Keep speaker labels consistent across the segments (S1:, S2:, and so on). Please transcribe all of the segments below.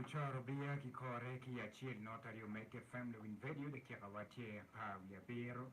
S1: Ocoro biya ki kore ki acel nota aryo mege family win vedio dakika wa tye apar wiye abiro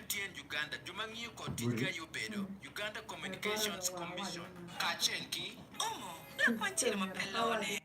S2: MTN Uganda, jo ma ngiyo kod ticgi aye obedo, Uganda Communications Commission, kacel ki Omo dok kwan cilo ma pe lone.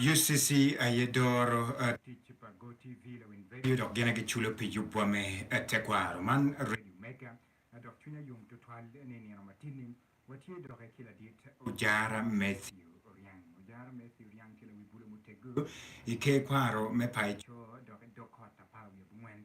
S1: UCC aye doro tic pa GoTv lawiny vedio dok gin aye giculo pi yubwa me tekwaro. Man redio mega dok cwinya yom tutwal ni i nino matidi watye doki ki ladit Ojara Mathew Oriang. Ojara Mathew Oriang tye lawi bulo muteggo i ker kwaro me paco dok i dog kot apar wiye abongwen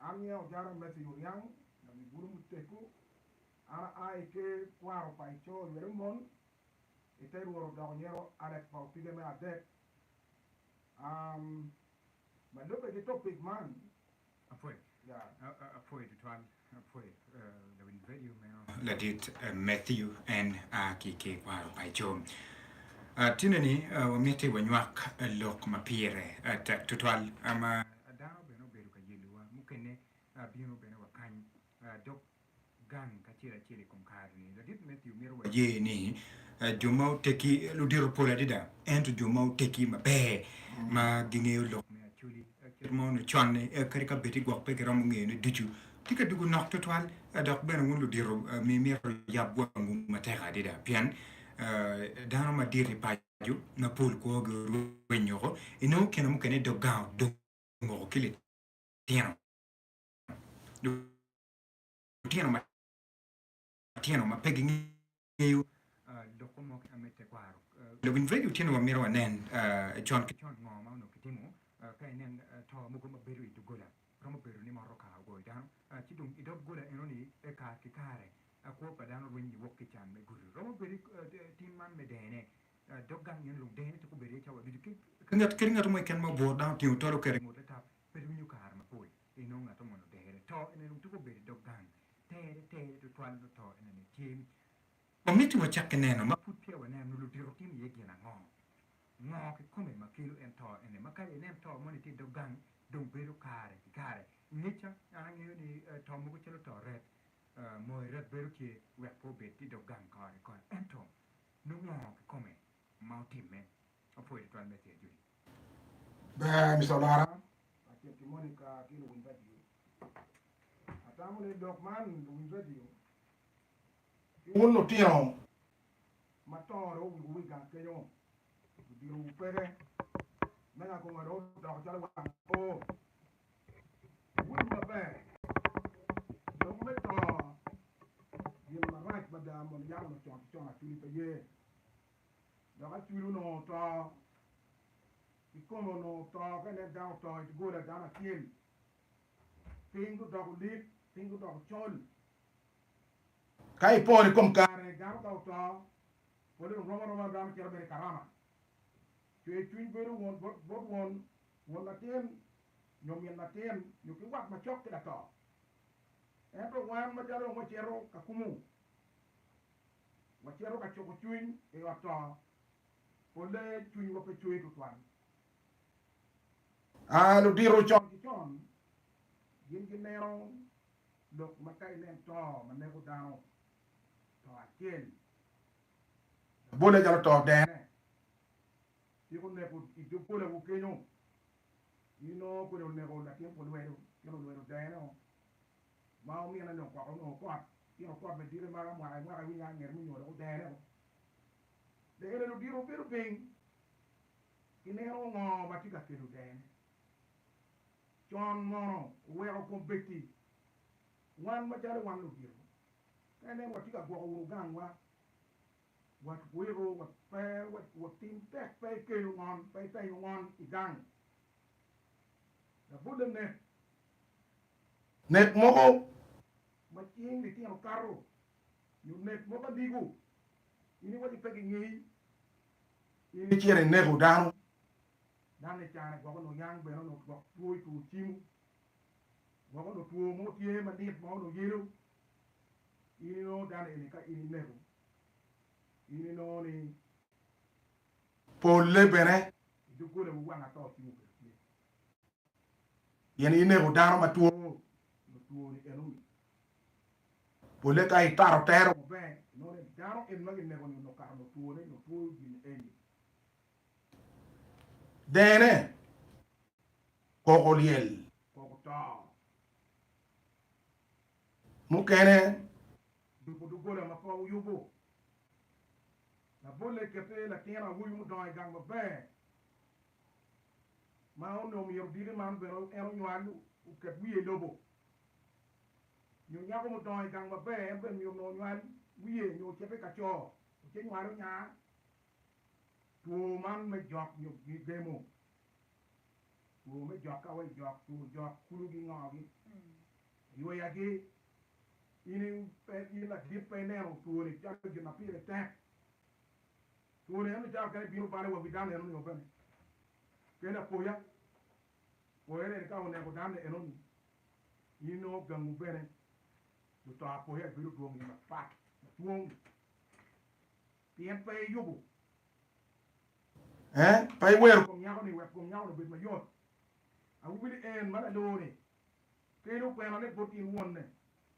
S3: An myero ajar amesa i Oniang, lawi bulu muteggo. An aa i ker kwaro pa i coo lwete mon, i te rworo dok nyero Alex pa opige me adek. Um, ma lubbe ki topic man. Apwoyo.
S1: Yeah.
S3: Apwoyo tutwal.
S1: Ladit Matthew en a ki Kekwaro paco. Tineni wamiti wanywak lok ma pire tek tutwal ma dano bene obedo ka yelowa, mukene bino bene wa kany dok gang kacel acel i kom kare-ni. Ladit Matthew mito waye ni jo ma oteggi ludito pol adada, ento jo ma oteggi maber ma gingeyo lok me Acholi. Kit ma onongo con-ni, kadi ka bed ni gwok pe giromo ngeyone ducu, tye ka dugo nok tutwal. Dok bene wun ludito myero wuyab wangwu matek adada pien dano madit i paco mapol kwogi orweny woko. Inongo kine mukene dog gang odong woko ki litino. matino ma pe gingeyo lok mo mo keken me tekwaro. Lawiny redio tye ni wamito wanen con ki con ngo ma onongo kitimo ka inen to mogo ma bedo i doggola. Romo bedo ni motoka ogoyo dano ci dong i dog gola enoni pe kare ki kare kwo pa dano rweny ni wok ki can me gudo. Romo bedo tim man me dene dog gang eno dong dene twero bedo iye cawa ducu kadi ngato mo keken ma obworo dang otingo tol oketo ingut latap pe rwinyo kare mapol inongo ngato moni odere. To eno dong twero bedo idog gang Tere tere tutwal nyo to enene tye. Wamito wacak ki neno ma pud peya wanen nyo ludito timo iye gin ango. Ngo kikome ma kelo en to ene ma kadi inen to moni tye idog gang dong bedo kare ki kare ingeca? An angeyo ni to mogo calo to rek moyo rek bedo tye wek pe obed idog gang kore kore ento nongo ngo kikome ma otimme Apwoyo tutwal Messi Ajoli. Ber
S3: Mister Olara kacel ki Monica ki luwiny radio. Atamo ni lok man luwiny radio ki wun lutino ma tongo dong owigo wi gang kenyo gudiro wu peke me nga konga dong odoko calo wang oo. Wun maber lok me tongo gin marac mada mono yam onongo con ki con atudi pe ye dok acwil onongo oto kikome onongo oto ka ineno dano oto i doggola dano acel piny gudoko lik piny gudoko col ka ipor i kom kare dano ka oto pole dong rom aroma dano cito mere i karama cwer cwiny bedo won bot bot won won latin nyo min latin nyo ki wat macok ki lato ento wan macalo dong wacito ka kumu wacito ka cuko cwiny i ot to, polle cwinywa pe cwer tutwal. A Ludito con ki con gin gineno lok ma ka inen to ma neko dano, to acel labolle calo to dene ciko oneko i doggolawu kenyo. Inongo kodi oneko latin olwedo, latin olwedo dene-o Ma omine dong koko onongo kot, tino kot madite maka mwaka ki mwaka iwinyo a nget munyo dok odene o. Dene dong odito obedo piny, ineno ngo ma tye ka kelo dene? Con mono oweko kombeddi wan macalo wan ludito ka ineno watye ka gwoko wunu gangwa, watwiko, wapero, watim tek pe ikelo ngon, pe itenyo ngon igang. Labol lanek. Nek mogo ma cing litino kato nyo nek mogo aligo, in iwaco pe gingei, in icito ineko dano. Dano-ni i carre gwok onongo yang bene, onongo gwok two i two cimo, gwok onongo two mo tye ma lit ma onongo yelo. In inongo dano eni ka in ineko, in inongo ni polle bene i doggolawu wang ato cimo kwede tye. Pien ineko dano ma two, nyo twoni en omiyi. Polle ka itato tero maber, inongo ni dano eni ma kineko-ni onongo kato nongo twone nyo two gin eni. Dene koko lyel, koko to. Mukene duko doggola ma pe wuyubo. Labolle kette latin awobi mudongo i gang maber ma onongo myero diki man bene en onywal oket wiye i lobo, nyo nyako ma odongo i gang maber en bene myero onongo onywal wiye nyo ocito i ka co oce nywalo nya two man me jok nyo gemo, two me jok ka wa ijok, two jok, kulu gi ngo gi yweya gi in in ladit pe ineno two ni calo gin ma pire tek, two ni en ni calo kene bino balo wa wi dano eno ni wa bene. Kel apoya. Poyone en ka oneko dano enoni in nongo gangu bene dong to apoya ibedo dwong iye mapat madwong pien pe iyubo ee pe iwero kom nyakoni wek kom nyakoni obed mayot. Awobi ni en ma laloo-ni kelo kwenone bot in wonne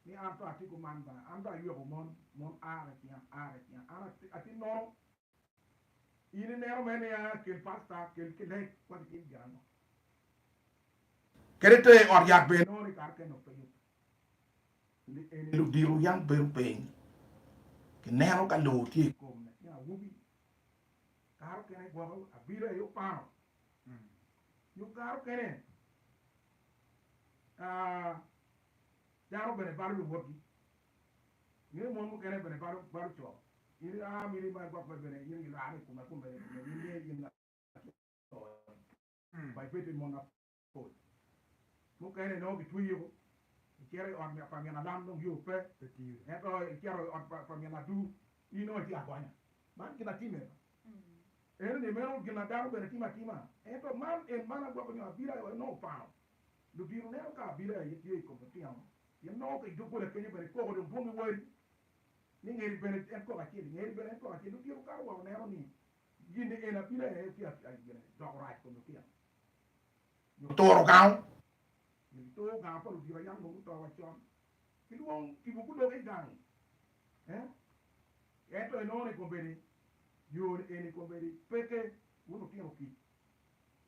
S3: ni an to atiko man ba, an dong ayweko mon, mon a ka cing, a ka cing, an atinnono. In ineno mere nia kel pasta kel ki lec wa ki tim gin ango kede ter i ot yat bene nongo ni kare kene openyo ni eni ludiro yam bedo piny ki neno ka lor tye i kom latin awobi kare okene gwoko abila aye opano nyo kare okene aa. Dano bene balo luwotgi, nyo mon mukene bene balo balo co. In i aa mini ma igwok bene bene in ilare i kome kome ni kome ni niye in laco-ni. Bai pe tye mon mapol mukene inongo gitweyiko icito i ot pa minalam dong yo pe pe tiri ento icito i ot pa minadu in nongo itye agonya. Man gin atime enoni meno gin ma dano bene timo atima ento man en man agwoko nyo abira nongo opano lubino neno ka abili aye tye i kom lutino, pien nongo ka i doggola kenyo bene koko dong dwong iwari, ni ngeri bene en koko acel, i ngeri bene en koko acel. Lutino kato wa oneno ni gin-ni en abili aye tye ka doko rac i kom lutino, nyo turo gango, nyo gituro gango pa ludiro yam dong guto wacon, ki dwong tipo gudoge i gang. Ento inongo ni kombeddi yo-ni eni kombeddi peke wun lutino kic,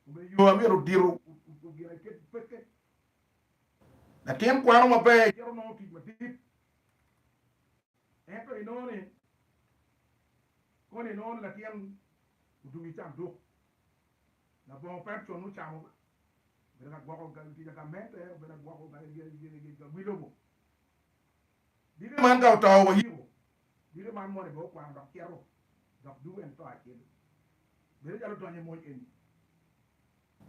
S3: Obedo yo ma myero odito ginaket i pekke. Latin kwaro maber cito nongo tic madit, ento inongo ni koni inongo ni latin odwogo i canduk. Labongo pe con ocamo ga, obedo ka gwoko tic gamente, obedo ka gwoko gin, gin, gin, gin, gin, gin lobo. Dite man ka oto wa yiko, dite man moni bene okwano dok cito, dok dugo en to acel. Bedo calo odonyo i mony eni.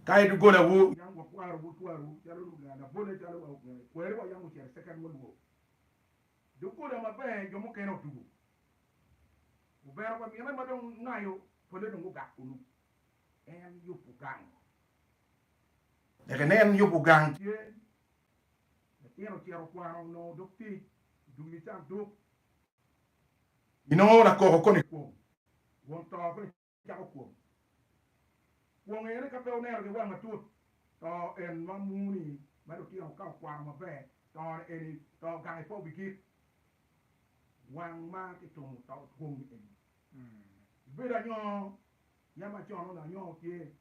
S3: Ka i doggola wu yam wa kwaro wu twar wu calo luganga labole calo wa oganga i kweri wa yam ocito i second world war. Doggola maber jo mukene otugo. Obero wa mine ma dong ngayo pole dong gugak kunu. En yub ugang. Leke nen yub ugang tye Latin ocito okwano onongo dok tic dum i canduk. Inongo nakoko koni i kwong. Won to koni cako kwong. Kwong eni ka pe oneno ki wang matut to en ma muni ma lutino ka okwano maber tone eni to gange pe obigik. Wang ma kitumo to kwong eni. Ibedo anyoo. Yam acono lanyongo tye,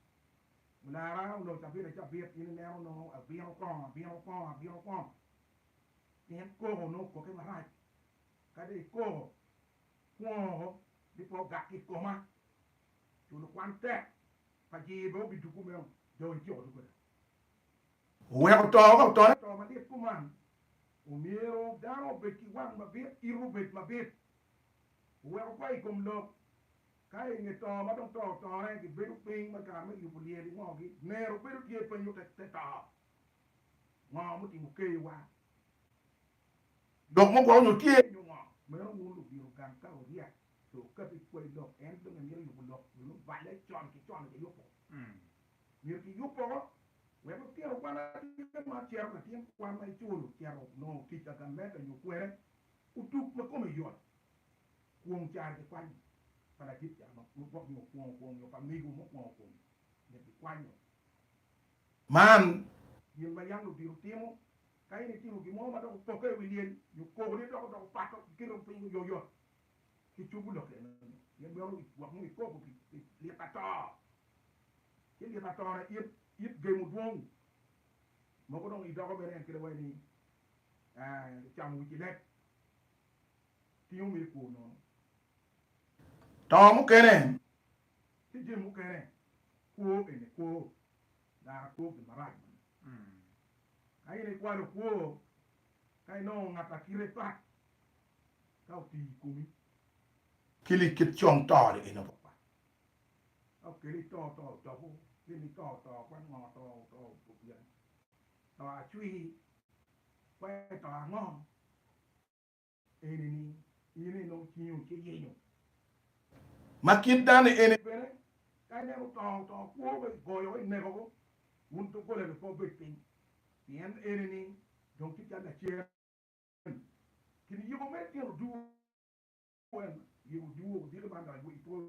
S3: olara oloc abit acabit, in ineno nongo abino kong, abino kong, abino kong. Pien koko nongo okoke marac, ka dong ikoko, kwongo bipe ogak ki i koma. Culo kwan tek, pajir bene obiduku meno, dong iciko duku ada. Oweko to ka otone to malit kuman, omyero dano obed ki wang mabit, ite obed mabit. Oweko kwayo i kom lok. Ka i nge to ma dong to otore, gibedo piny ma kare me yubo lyel i ngogi. Nero bedo tye penyo te te to, Ngo mutimo keyowa? Lok mo gwoko nyo tye nyo ngo? Meno wun ludiro gang ka oryak pe okato i kwai lok, en dong emito yubo lok nyo nongo balle con ki con aye yubo? Myero kiyub woko wek lutino kwan atir ma cito latin kwan ma iculo cito nongo tic agamenda nyo kwene otug ma kome yot. Kwong caro kikwanyo pa ladit caro ma pud gwok nyo kwongo kwong nyo pa mego mukwongo kwong nyo kikwanyo man. Gin ma yam lubiro timo ka in itimo gin mo ma dok opokke i wi lyel nyo koko ni dok odoko pato kiketo piny oyoyot ki cubu lok eno nyo gin meno gwok nyo ikoko pi lit ato ci lit ato na it it gemo dwong mogo dong idoko bene en kede wayi ni icamo wici leb. ki yo me kwo nono. Tongo mukene ki jami mukene kwo ene kwo. Dano akwo gin marac moni. Ka in ikwalo kwo ka inongo ngat a kite pat ka otiyo i komi. Kili kit cong to ni ene pat pat. Ka okeli to, to otobo. Kili ni to oto kwan ngo to oto opye ango. To acwir kwan to ango. Eni ni in inong cingo ci yenyo ma kit dani eni bene ka ineno otongo otongo kwo be igoyo ineko go wun doggola ni pe obed piny pien eni ni dong tye cal lacen kin yubu me tyen oduwu en yubu oduwu diki man dok iduwu i polo.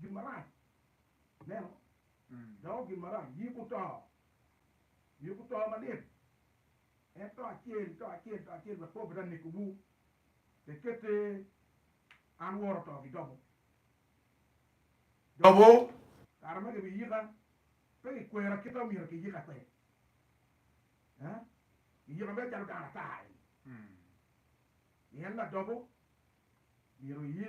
S3: gin marac. Ineno? Doko gin marac. Yiko to. Yiko to malit. En to acel, to acel, to acel wek po pe ta nekowu. Pe kette an woro to ki dobo. Dobo, kare ma gibiyika, pe gikwera kit ma omyero kiyika kwede. Eh? Giyika mere calo dano ata-ni. Pien ladobo myero eye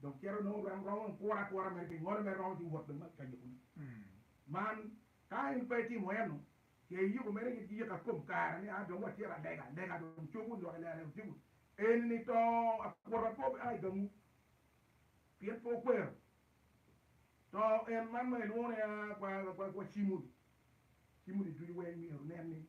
S3: Dong cito onongo rom romo kura kura mere pi ngolo mere romo ki wot bene ka yuku ne. Man ka in pe itimo eno ce iyuku mere ki yika kom kare ni a dong wa cito alega lega dong cobu lwak i lela cobu eni ni to akwota po bi a i gamu pien pe okwero to en man ma ilwongo ni a kwa kwa kwa cimuni cimuni ducu weng myero nen ni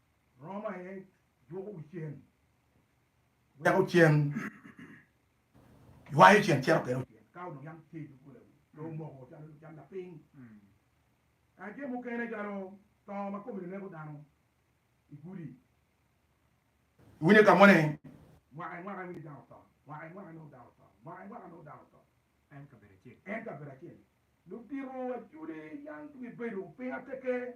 S3: Roma aye dwoko wi cen, weko cen, ywayo cen cito kelo cen. Ka onongo yam tye i dog gola wi pe omoko calo cal lapiny, kadi jo mukene calo to ma kome neko dano i gudi. Iwinyo ka moni? Mwaka i mwaka iwinyo dano to, mwaka i mwaka inongo dano to, mwaka i mwaka inongo dano to. En kabedo acel.
S1: En kabedo acel. Ludito
S3: acudi yang gibibedo piny ateke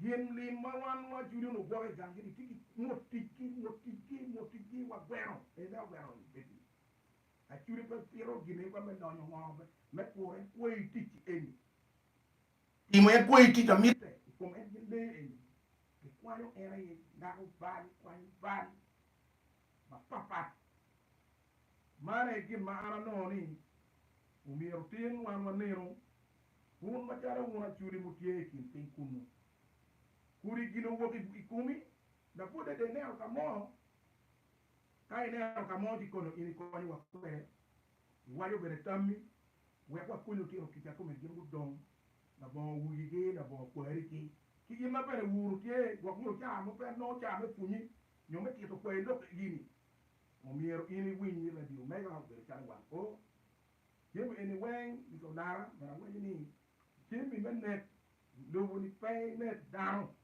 S3: Gin lim ma wan wa Julian ogwoko i gangi ni tye ki mot ticgi, mot ticgi, mot ticgi, wa gweno en dawe ogweno ni bedi acudi pe pito gin eka me donyo ngo me kuro en kwo i tic eni timo en kwo i tic amitte i kom en gin lee eni gi kwanyo en aye dako bal kwanyo bal ma pat pat man aye gin ma an anongo ni omyero otim wan wa nenu. Wun macalo wun aculi mutye i kin piny kunnu, kudi gin owok i komi, dok pud dede ineno ka mo. Ka ineno ka mo ci kono in ikonyowa kwede, iwaco bene tammi, wek wakonyi otito kica kome gin gudong labongo wuyigi, labongo kwarigi. Ki in ma bene wuru tye, gwok nyo caa mo pe anongo caa me pwonyi nyo me tito kwai lok eni, omyero in iwiny ni Radio Mega obedo calo wang o. Jami eni weng gitye olara but awaco ni jami me nek lobo ni pe inek dano.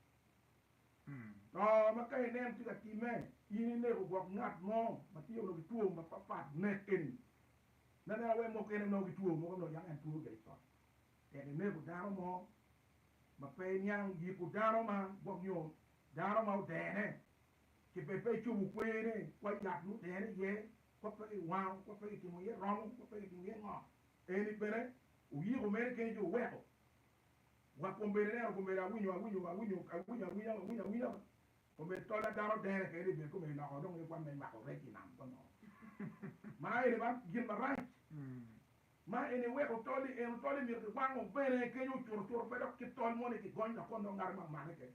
S3: To ma ka ineno tye ka timme in ineko gwok ngat mo ma tye onongo ki two mapat pat nek eni ma ineno awe mukene nongo ki two mogo nongo yako en two gire cot tek ineko dano mo ma pe iniang yiko dano ma gwok nyo dano ma odene ki bed pe icobo kwene kwai yat ma odene iye kop ma giwango, kop ma gitimo iye romo, kop ma gitimo iye ngo. Eni bene oyiko mere kene ci oweko wa kombeddi neno kombeddi awinyo awinyo awinyo awinyo awinya awinya awinya kombeddi tolla dano dene kene ni bed kombeddi loko dong ni kwan me nywako rec i nam kong ma eni ba gin marac ma eni weko tol-li eno tol-li myero kiwango bene kenyo cuto cuto pe dok ki tol mo ni kigony dok kono ngat ma omake kene.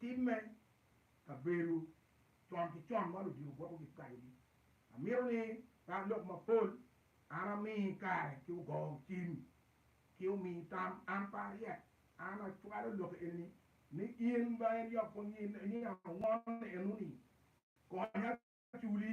S3: Tim me kabedo con ki con ma ludito gwoko gikacogi. Amito ni kany lok mapol an ami kare ki ogo cim ki omi tam an pe aryek. An acwalo lokke enini ni in ma en yot pwonye ni ango ni enuni konya culi.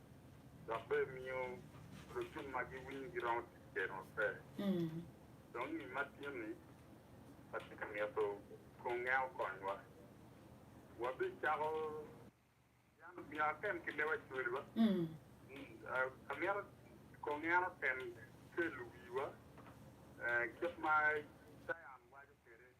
S4: dok bene miyo lucum ma giwinyo giromo tic kwede maber. Dong ni ma tin-ni, watye ka mito konge okonywa. Wabicako yalo miyo atem ki lewa cweliwa. Amito konge an otem kelo wiwa kit ma Cayan waco kwede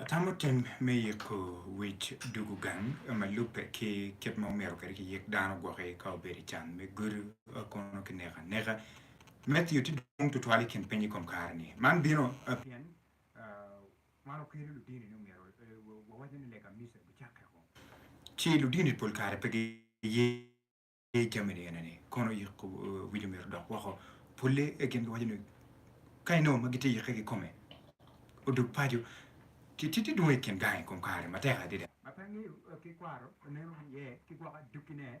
S1: Atamo tim me yiko wic dwogo gang ma lubbe ki kit ma omyero kwede kiyik dano gwoki ka obedo i can me gudo kono ki neko aneka. Mathew tye dwong tutwal i kin piny i kom kare-ni. Man bino pien Man okelo ludini ni omyero wawacne ni lega Misa bicakke kong. Ci ludini pol kare pe giye jami ni ene ni, kono yiko wic omyero odok woko. Polle i kingi waco ni ka inongo ma gitye yikke kikome odog paco, ci ti dwong i kin gangi kom kare matek adida. Ma pe angeyo ki kwaro oneno iye ki gwoko adukkine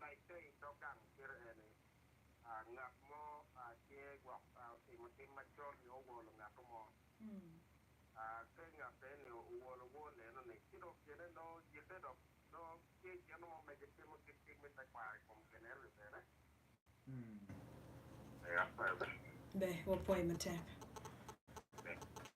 S4: ma ipe i dog gang ciro eni, Ngat mo tye gwok otimo tim macol nyo owolo ngatto mo. Ka ngat eni owolo wor leno-ni, ci dong tyene nongo yikke dok nongo tye gin mo ma gitimo kit tim me tekwaro i kom gin eno-ni bene.
S5: Be wapwoye matek?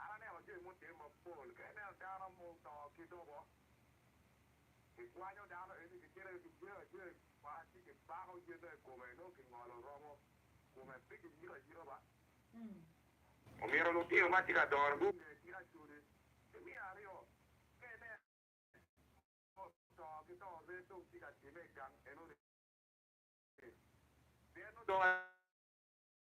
S5: An aneno jami mutim mapol.
S6: Ka ineno dano ma oto ki lobo, kikwanyo dano eni, kicito ki kijeyo ajeyo i wi ot, ci kibako yene i kome, nongo kingolo romo kome, pe kiyiko ayika ba. Omyero lutino ma tye ka dongo gunge gin acodi. Pi miya aryo, ka ineno dano oto ki to ree dong tye ka timme i gang enoni, pien nongo dong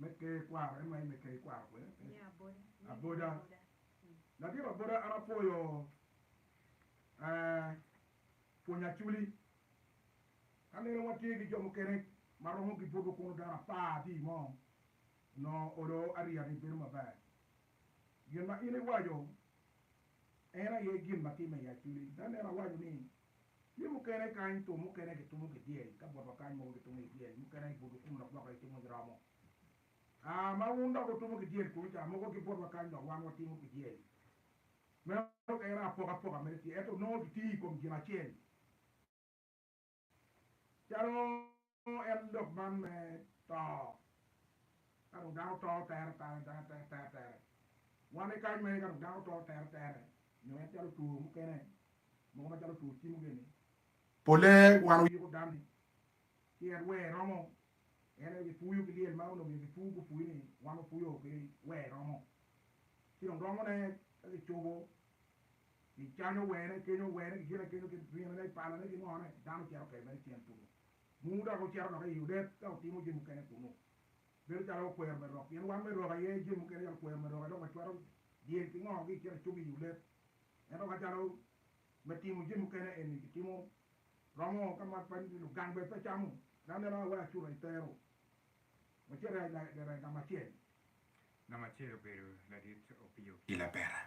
S3: me ker kwaro en ma in me ker ikwaro kwede pe aboda ladiro aboda an apwoyo pwony aculi ka neno watye ki jo mukene ma romo gibuto kunu dano apar tye i mo onongo olo ariya ni bedo maber Gin ma in iwaco en aye gin ma timme i aculi. Ka aneno awaco ni, Tye mukene kany tum mukene gitumo ki dyel, ka botwa kany mogo gitumo ki dyel, mukene ibuto kum dok gwoko gitumo ki romo. A Ma wun dok wutumo ki dyel kunu ca, mogo ki botwa kany dok wan watimo ki dyel. Meno kayaka apokapoka mere tye, ento nongo gitiyo i kom gin acel. Calo en dok man me to, ka dong dano to tere tere tere tere tere tere, wan i kany magi ka dong dano to tere tere nyo en calo two mukene mogo macalo two cimo gini, pole wan oyiko dani ki en wer romo, en aye gipuyo ki lyel ma onongo myero gipur gupur ni wan wapuyo ki wer romo, ci dong romone ka gicubo I can owene, i kenyo owene, ki gin akenyo, ki rinone, i palane, ki ngone, dano cito kede mere cen tuku. Munu dok ocito dok i odet ka otimo jami mukene kunu. Bedo calo wakwero me rok, pien wan me rok aye, jami mukene calo kwero me rok aye dong wacwato dyel ki ngo ki i kine acugi i odet. Ento ka calo me timo jami mukene eni kitimo romo ka ma pe lugang bene pe camo, dano neno a wai acuta itero, wacit i lega mo acel. Namba
S1: acel obedo ladit opiyo ki lapera.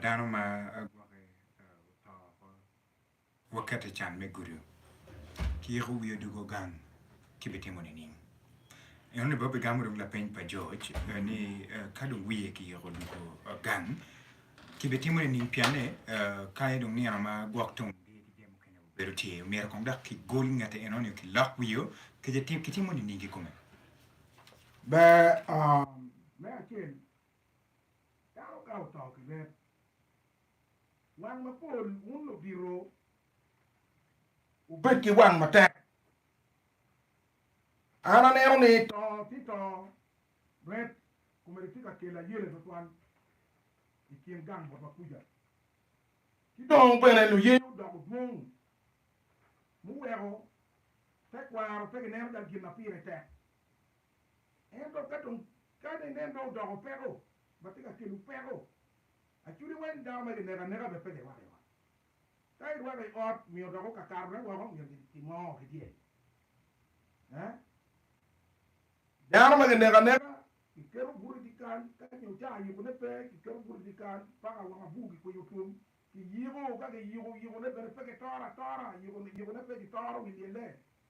S1: Dano ma gwoke oto woko wakete i can me gudo ki yiko wiye odoko gang kibitimo nining? Enoni bene bigamo dong lapeny pa George ni ka dong wiye kiyiko odoko gang kibitimo nining pienne kanye dong nino ma gwok tung bedo tye myero kong dok kigol ngete enoni kilok wiye kicitimo nining ki kome?
S3: Ber me acel, dano ka oto ki rep, wang mapol, wun ludito wubed ki wang matek. An aneno ni to ci to, rep komedi tye ka kelo ayele twatwal i kin gang bot wa kuca. Ci dong bene luye odoko dwong muweko tekwaro pe gineno calo gin ma pire tek. Ento ka dong kadi inen dong odoko peko ma tye ka kelo peko acudi weng, dano ma kineko aneka bene pe girwako i ot. Ka irwako i ot myero dok okakatone woko myero gimo ki dyel. Dano ma kineko aneka kiketo buto i dyekal ka nyo caa ayikone pe kiketo buto i dyekal paka wang abur kikwinyo twom kiyiko ka kiyiko yikone bene pe kitoro atora yikone pe kitoro wi lyelle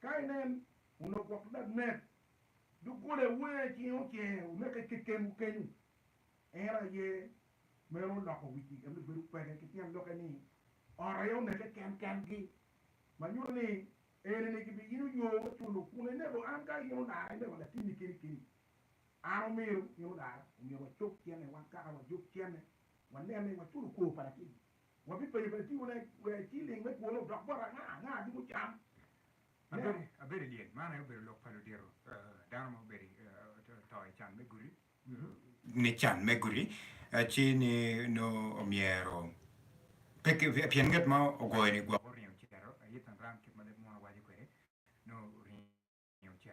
S3: Ka inen, wunok woko dok nek, doggola wenge cinge ocer, wuneke kekenwu kenyu. En aye meno oloko wigi, en obedo kwege, ki tyen lokke ni, ot aye oneke ken kengi, ma nyuto ni, enini gibiyino yo me culo kun enego an ka in odara enego latimmi keni keni. An omiro in odara, omyero wacob cente wan kaka wajob cente, wanen ni waculo kor pa latinni.
S1: Wabipenyo bene tiwa ne wer ci ling me kwone odok bot anga anga adungo cam ne. Abedo i lyel man aye obedo lok pa ludito dano ma obedo to i can me guti. Ni can me guti ci ni nongo omyero pien nget ma ogoyo ni gwoko oringo ocito aye tanran kit ma leb munu waco kwede nongo oringo ocito.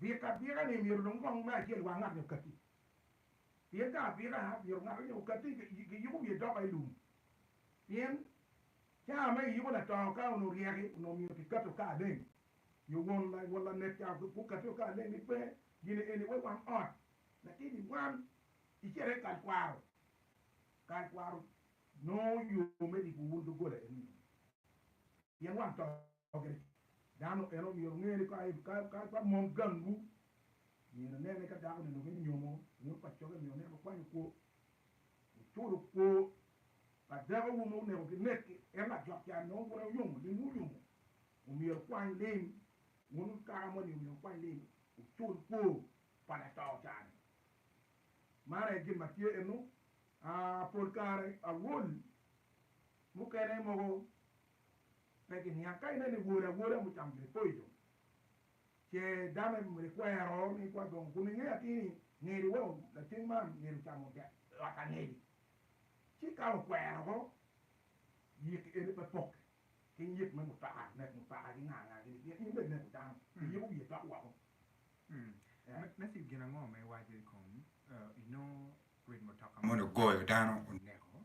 S3: Bik abika ni myero lung kong me acel wa ngat-ni okatti. Pien ka abika myero ngat-ni ni okatti ki yuku myero idoka i lum. Pien caa ma iyuku latoo ka onongo ryeki onongo myero ki katti oka aleng. Nyo won lanek caa gu katti oka aleng ni pe gine eni we wang ot latin i wan icere ikal kwaro. Kal kwaro nongo yo me riku wun dogola eni nyo pien wang too. Oge, dano en omyero onge ni ka pa mon gangwu myero inen ni ka dako-ni onongo enyomo ngut pa coge myero onen okwanyo kwo, oculo kwo pa dekowu ma oneko ginekki. En lajok ca nongo bute oyomo lim ma oyomo omyero okwany lim, wun kaka moni omyero wukwany lim wucul kwo pa lato ca-ni. Man aye gin ma tye eno. Aa pol kare awol mukene mogo pe giniang. Ka ineno iwor awola mucamo gin po ico, ce dame ikwero ni ikwa gongo kun ingeyo atir ni ngeri wa lacen man ngeri ocamo dek lwak angeri. Ci ka okwero ko, yiki ene pe pokke ki yik me mutoka, nek mutoka ki nga nga gini pien in bene ineko dano, iyiko wiye dok woko.
S1: Nasib gin ango ma iwaco ikom inongo rit mutoka moni ogoyo dano oneko?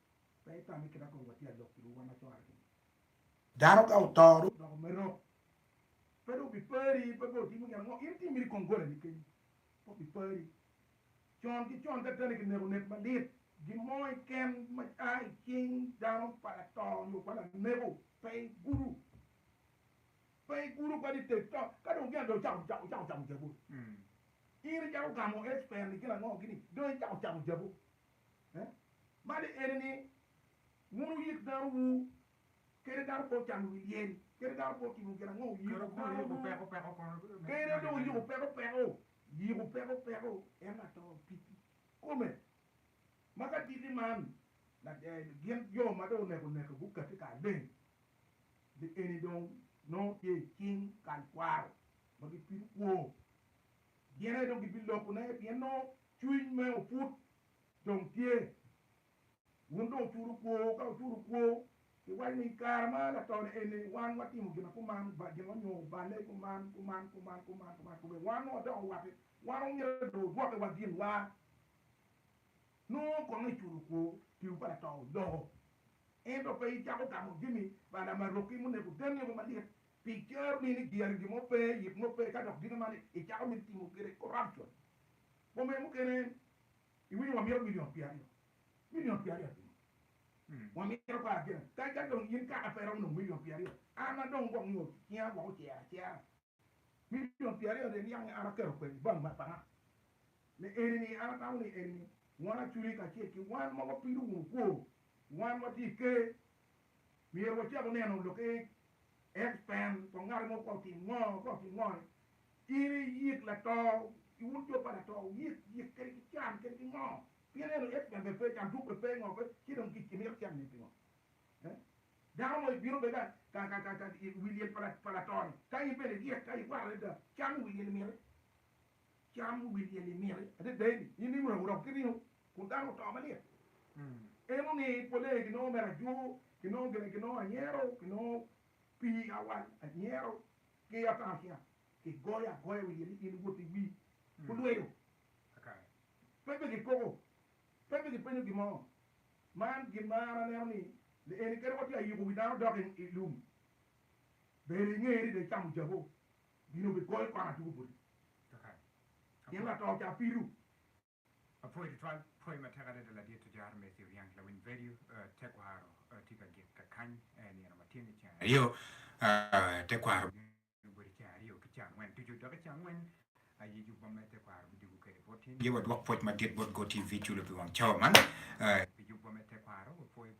S3: Dano ka oto dong odoko mero, pe dong obipari pe bene otimo gin ango, in timiri kong golani kenyo, pe obipari. Con ki con ka teni kineko nek malit, gin mo keken ma a i cing dano pa lato nyo pa laneko pe igudo, pe igudo kwede i te to. Ka dong gin dong ocako ocako camo jabu-ni, in icako gamo expire-ni gin ango gini, dong icako camo jabu. Mani ene ni, wun wuyik dano wu, kede dano pe ocano wi lyel, kede dano pe otimo gin ango, wuyiko dano wu, kede dong wuyiko peko peko, yiko peko peko en ato titi kome. Ma ka titi man gin jo ma dong oneko neke gukati kar leng, li eni dong nongo tye i cing kal kwaro ma gipido kwo. Dyere dong gibilokone, pien nongo cwiny me oput dong tye. Wun dong wucuru kwo, ka wucuru kwo, wuwaco ni, 'I kare ma latone eni, wan watimo gin ma kuman, gin wanyogo balle kuman, kuman, kuman, kuman, kuman, kome wan nongo wadoko owate, wan omyero dong odwokewa ginwa. Nongo kono iculu kwo, tiwu pa lato odoko, ento pe icako gamo jami pa lamarokki muneko deni-o malit, Pi cer ni ni giyero gin mo pe, yit mo pe, ka dok gin man icako mito timo kwede corruption. Boma mukene iwinyo wamito million pye aryo. Million pye aryo atingo? Wamito kor agena. Ka ka dong in kaka pe iromo nongo million pye aryo, an ma dong gwok nyo cinga gwok ocero acera. Million pye aryo ni en niange an aketo kwede ibank ma pa nga? Me eni ni an atamo ni eni ni wan aculi kacel ki wan ma wapido wunu kwo, wan watye i ker Myero wacak neno lok i X pen pa ngat mo kok ki ngo kok ki ngo ni in i yik lato i un jo pa lato yik yik kadi ki can kadi ki ngo pien eno X pen be pe can tuk be pe ngo pe ci dong ki mito cen ni pingo eh dano mo i bino be ka ka ka ka ka i wi lyel pa lato ni ka in bene iryek ka i waro adada cam i wi lyel i miti. Cam wi wil-li miti adada eni, in ringo aye wurom ki ringo, kun dano oto malit. Ineno ni polle aye ginongo mere ajur, ginongo gire, ginongo anyero, ginongo pii awal, anyero ki ataracia kigoyo agoya wi yel-li, in iwot iwi kulweyo kakare, pe pe gikoko, pe pe gipenyo gin mo. Man gin ma an aneno ni le eni kadi watye ka yuko wi dano dok i lum, ber ingeye ni dong icamo jabu Gin obipol kwan atuku boti kakany pien lato ca pido. Apwoyo
S1: tutwal pwoyo matek adada ladit Tujar Matthew Riang lawiny vedio Tekwaro tye ka gik kakany nino ma tyeni ceng aryo Tekwaro bino boti ceng aryo ki ca angwen tucu dok i ca angwen aye jubwa me Tekwaro bidwogo kede boti. Aye wadwok pwoc madit bot Go TV culu pi wang cawa man pi jubwa me Tekwaro wapwoyo.